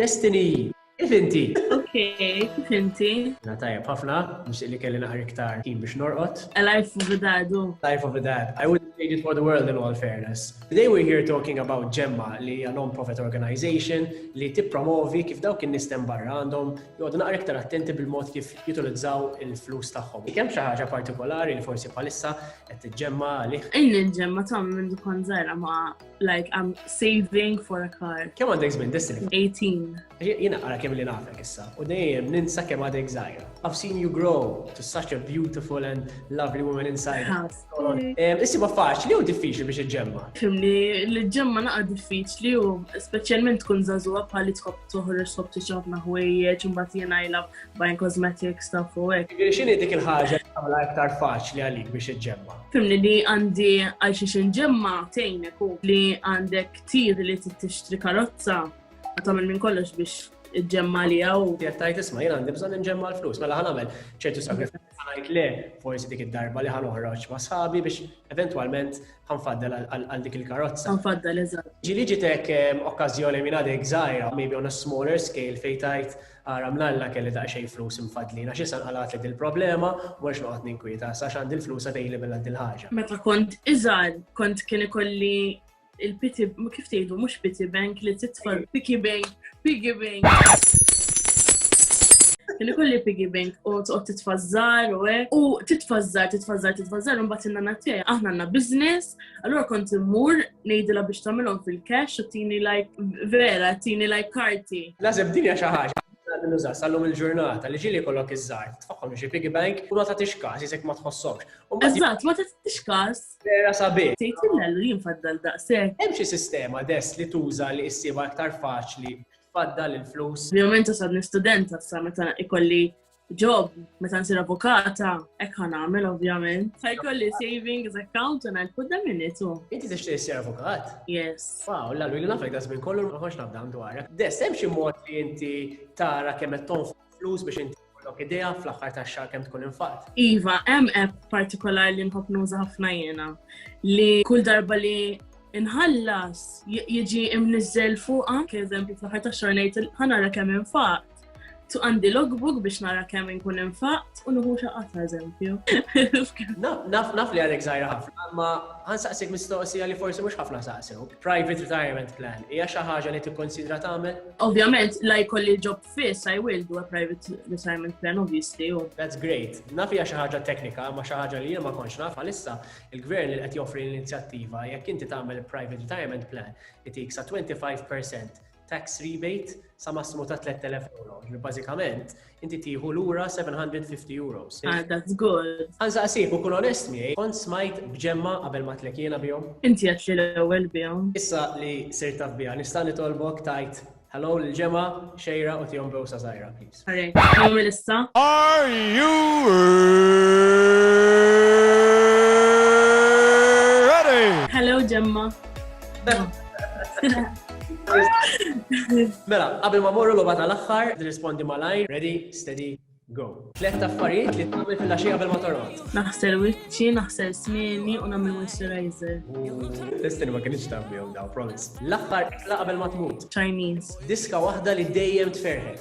Destiny, kif inti? Ok, kif inti? Na tajab ħafna, nix li kelli naħar iktar kien biex norqot. A life of a dad, oh. Life of a dad. I wouldn't trade it for the world in all fairness. Today we're here talking about Gemma li hija non-profit organization li tippromovi kif dawk in nistem barra għandhom jgħodu naqra iktar attenti bil-mod kif jutilizzaw il-flus tagħhom. Kemm xi ħaġa partikolari li forsi palissa qed tiġġemma għalih. Ejn il-ġemma ta' minn dukon żgħira ma' like I'm saving for a car. Kemm għandek żmien dissin? 18. Jiena għara kemm li nafek issa u dejjem ninsa kemm għadek żgħira. I've seen you grow to such a beautiful and lovely woman inside. Issi ma faċ li hu diffiċli biex iġġemma. Fimni, li ġemma naqa diffiċli u speċjalment tkun żagħżugħa bħali tħobb toħroġ sob tiċafna ħwejjeġ imbagħad jiena I love buying cosmetics stuff u hekk. X'inhi dik il-ħaġa tagħmilha iktar faċli għalik biex iġġemma? Fimni li għandi għal xiex inġemma tejnek u li għandek tir li t-tixtri karozza għatamil minn kollox biex ġemma li għaw. Jek tajt isma jena għandi bżon nġemma l-flus, mela ħan għamel ċertu sakrifizz għajt le, forsi dik id-darba li ħan uħroċ ma sħabi biex eventualment ħan faddel għal dik il-karozza. Ħan faddel, eżat. Ġili ġitek okkazjoni minn għadek zaħira, maybe on a smaller scale, fejtajt Ara mlalla kelli daqsxejn flus mfaddlin għax issa nqalgħatli dil-problema u m'għadx noqgħod ninkwieta issa għax għandi l-flus available għal dil-ħaġa. Meta kont iżgħar kont kien ikolli il-pity kif tgħidu mhux pity bank li titfa' piggy bank, piggy bank. Kelli kolli piggy bank u tqgħod titfażżar u hekk. U titfażżar, titfażżar, titfażżar u mbagħad in-nana tiegħi aħna għandna business Allura kont immur ngħidilha biex tagħmilhom fil-cash u tini like vera, tini like karti. Lazib dinja xi ħaġa nuża sallum il-ġurnata li ġili kollok iż-żar, tfaħħom xi piggy bank u ma tagħtix każ jisek ma tħossokx. Eżatt, ma tagħtix każ. Vera sabi. Tgħid illellu jien faddal daqshekk. Hemm xi sistema dess li tuża li issibha aktar faċli faddal il-flus. Ovvjament sad nistudenta sa meta ikolli job, meta nsir avukata, ek ħan għamil ovvjament. Ħajkolli savings account un għal put minn itu. Inti t tixtieq issir avukat? Yes. Wow, la l-wili nafek da żmien kollu ma ħox nafdam dwar. Des hemm xi mod li inti tara kemm qed tonfoq flus biex inti kollok idea fl-aħħar tax-xahar kemm tkun infaqt. Iva, hemm app partikolari li nħobb nuża ħafna jiena li kull darba li inħallas jiġi imnizzel fuqa, kieżempju fl-ħar ta' xornejt ħanara kemm infaq. Tu għandi logbook biex nara kemm inkun infaqt u nuħu xaqat ta' eżempju. Naf naf li għalek zaħira ħafna, ma ħansaqsik mistoqsija li forsi mhux ħafna saqsew. Private retirement plan hija xi ħaġa li tikkonsidra tagħmel? Ovvjament, la jkolli ġob fiss I will do a private retirement plan obviously. That's great. Naf hija xi ħaġa teknika, ma xi ħaġa li jien ma kontx naf għalissa il-gvern li qed joffri l-inizjattiva jekk inti tagħmel private retirement plan itik sa 25% tax rebate sa massimu ta' 3000 euro. Ġifieri bażikament inti tieħu lura 750 euros. Ah, that's good. Għanza qasib u kun onest miegħi, kont smajt bġemma qabel ma tlekiena bihom. Inti qed li l-ewwel bihom. Issa li sir taf biha, nista' nitolbok tajt hello l-ġemma xejra u tihom bewsa żgħira, please. Sorry, nagħmel issa. Are you ready? Hello, Gemma. Mela, qabel ma morru l-oba tal-axħar, nirrispondi malajr, ready, steady, go. Tlet affarijiet li tagħmel fil-għaxija qabel ma torqod. Naħsel wiċċi, naħsel smieni u nagħmel moisturizer. Testini ma kienx taf bihom daw, promise. L-aħħar ikla qabel ma tmut. Chinese. Diska waħda li dejjem tferħek.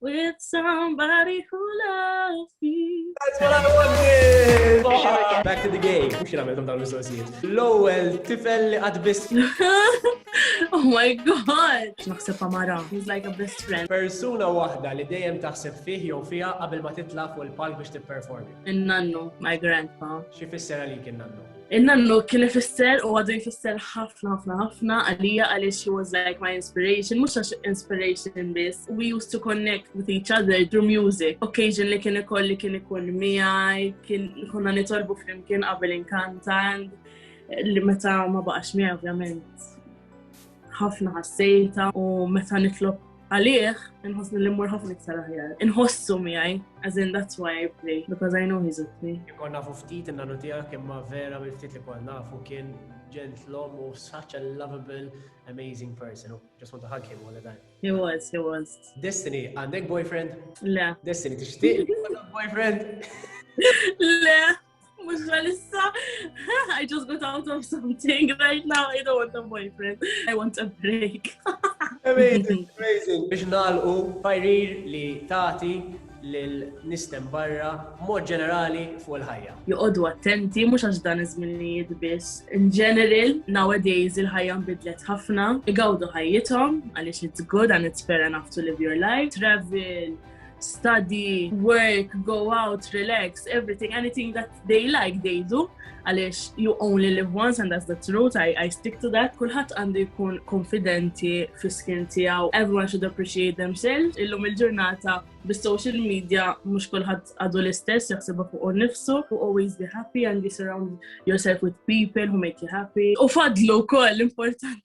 With somebody who loves me. That's what I wanted! Back to the game. Mux jina għamilkom dawn l-mistoqsijiet. L-ewel tifel li għadbis. Oh my god! Naħseb Amara. He's like a best friend. Persuna wahda li dejjem taħseb fih jew fija qabel ma titla fuq il-palk biex tipperformi. In-nannu, my grandpa. Xi fissera li kien nannu? Il-nannu kien ifisser u għadu jfisser ħafna ħafna ħafna għalija għaliex she was like my inspiration, mhux għax inspiration biss. We used to connect with each other through music. Occasion li kien ikolli kien ikun miegħi, kien konna nitolbu flimkien qabel inkantan li meta ma baqax miegħi ovvjament. Ħafna ħassejta u meta nitlob għalih, nħossni li mmur ħafna iktar aħjar. Inħossu miegħi, as in that's why I play, because I know he's with me. Ikon nafu ftit in-nanu tiegħek imma vera mill ftit li konna nafu kien ġentlom u such a lovable, amazing person. Just want to hug him all the time. He was, he was. Destiny, għandek boyfriend? Le. Destiny, tixtieq boyfriend? Le. Mux għalissa, I just got out of something right now, I don't want a boyfriend, I want a break. amazing, amazing. Biex nalqu, fajrir li tati l-nistem barra mod ġenerali fuq il-ħajja. Joqodu attenti, mux għax dan iż-żminijiet biss. In general, nowadays il-ħajja nbidlet ħafna, igawdu ħajjithom għaliex it's good and it's fair enough to live your life. Travel, study, work, go out, relax, everything, anything that they like, they do. Għalix, you only live once and that's the truth, I, I stick to that. Kulħat għandu jkun konfidenti fis-skin tijaw, everyone should appreciate themselves. Illum il-ġurnata bis-social media mux kulħat għadu l-istess, jaxsibu fuq nifsu, who always be happy and you surround yourself with people who make you happy. U fadlu kol, importanti.